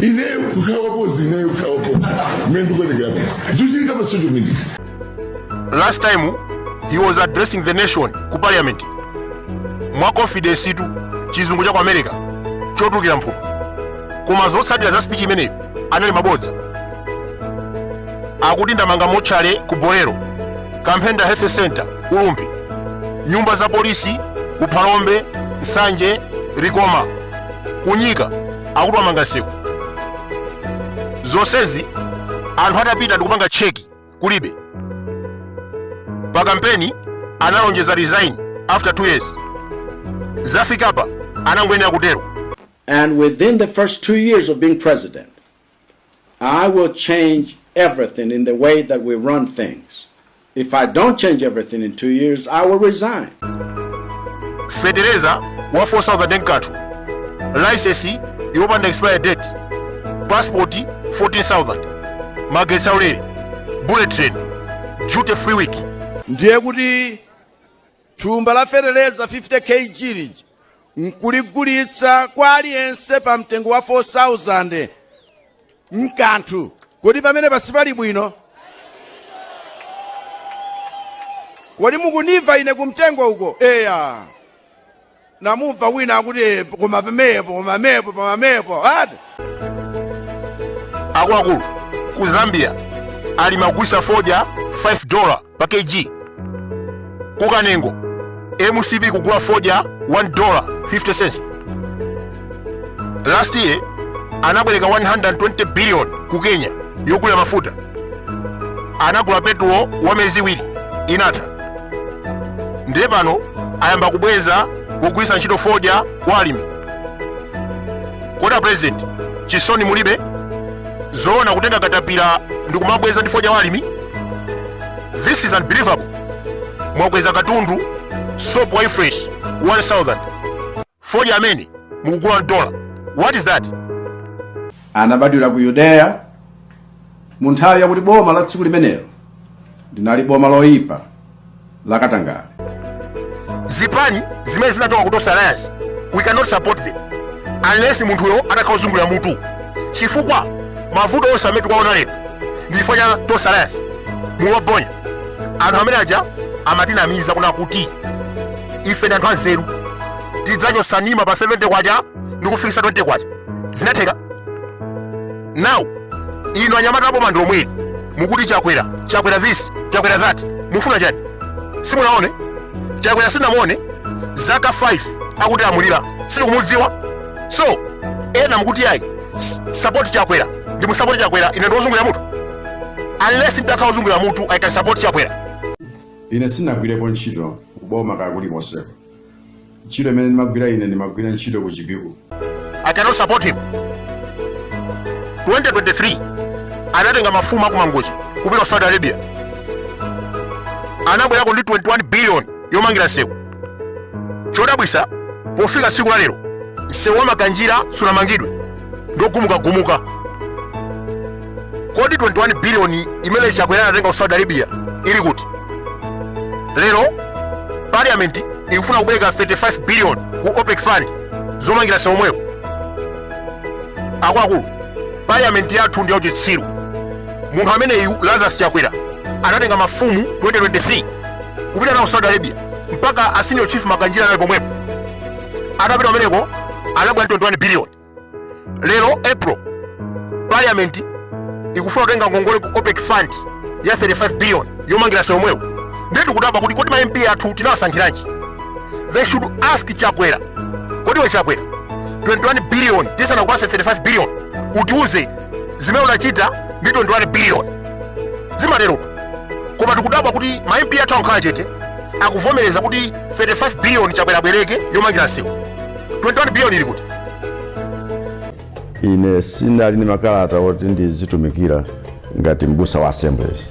ineyo kukhala wapozi ineyo kukhala wapozi mmene ndikuonekera pano zikuchitika pa social media last time he was addressing the nation ku parliament mwa confidence tu chizungu cha ku america chotukira mphuno koma zotsatira za speech imeneyo anali mabodza akuti ndamanga motchale ku bolero kamphenda health center ku rumphi nyumba za polisi ku phalombe nsanje likoma ku nyika akuti wamanga nsewu zonsezi anthu atapita ndikupanga cheki kulibe pa kampeni analonjeza resign after 2 years zafikapa anangoyenera kutero And within the first two years of being president, I will change everything in the way that we run things. If I don't change everything in two years, I will resign. fetereza wa 4000 nkathu laisesi yopanda expire date pasipoti 14000 magetsi aulere bullet train duty free week ndiye kuti Thumba la feteleza 50 kg lija nkuligulitsa kwa aliyense pa mtengo wa 4000 mkanthu kodi pamenepa sipali bwino kodi mukunimva ine kumtengo uko eya namumva wina akuti eh koma pamenepo koma pamenepo koma pamenepo ati akuluakulu ku zambia alimi agulitsa fodya 5 dola pa kg ku kanengo mcp kugula fodya 1 dola 50 cents last year anabwereka 120 billion ku kenya yogula mafuta anagula petulo wa miyezi iwiri inatha ndiye pano ayamba kubweza kugwiritsa ntchito fodya wa alimi kodi a president chisoni mulibe zoona kutenga katapira ndi kumabweza ndi fodya wa alimi this is unbelievable mwakweza katundu soap wa ufresh 1000 fodya amene mukugula 1 dola what is that anabadwira ku yudeya mu nthawi yakuti boma la tsiku limenelo linali boma loyipa lakatangale zipani zimene zinachoka ku Tonse Alliance we cannot support them unless munthuyo atakhala wozungulira mutu chifukwa mavuto onse amene tikuwaona lero ndi chifukwa cha Tonse Alliance muwabonya anthu amene aja amatinamiza kunena kuti ife ndi anthu anzeru tidzachotsa nsima pa 70 kwacha ndi kufikisa 20 kwacha zinatheka now inu anyamata a boma ndi lomweli mukuti chakwera chakwera this chakwera that mufuna chani simunaone chakwera simunamuone zaka 5 akutilamulira sitikumudziwa so ena mukuti ayi s- support chakwera ndimusapoti chakwera ine ndiwozungulira mutu unless nditakhala ozungulira mutu i can support chakwera ine sinagwirepo ntchito kuboma kaya kulikonseko ntchito imene ndimagwira ine ndimagwira ntchito ku chipiku i cannot support him 2023 anatenga mafumu akumangochi kupita ku saudi arabia anabwerako ndi 21 billion yomangira nsewu chodabwisa pofika tsiku la lero msewu wa makanjira sunamangidwe ndogumukagumuka kodi 21 biliyoni imene chakwera anatenga ku saudi arabia ili kuti lero parliament ikufuna kubwereka 35 biliyoni ku opec fund zomangira msewu omwewo akuluakulu parliament yathu ndi yauchitsiru munthu ameneyu lazarus chakwera anatenga mafumu 2023 kupita nawo saudi arabia mpaka a senior chief makanjira anali pomwepo atapita kumeneko anabwera ndi 21 billion lero april parliament ikufuna kutenga ngongole ku opec fund ya 35 billion yomangira sewu omwewu ndiye tikudabwa kuti kodi ma mp athu tinawasankhiranji they should ask chakwera kodi iwe chakwera 21 billion tisanakupase 35 billion utiuze zimene unachita ndi 21 billion zimaterotu koma tikudabwa kuti ma mp athu akukhala chete akuvomereza kuti 35 biliyoni chakwera abwereke yomangira nsewu 21 biliyoni ili kuti ine sinali ndi makalata oti ndizitumikira ngati mbusa wa assemblies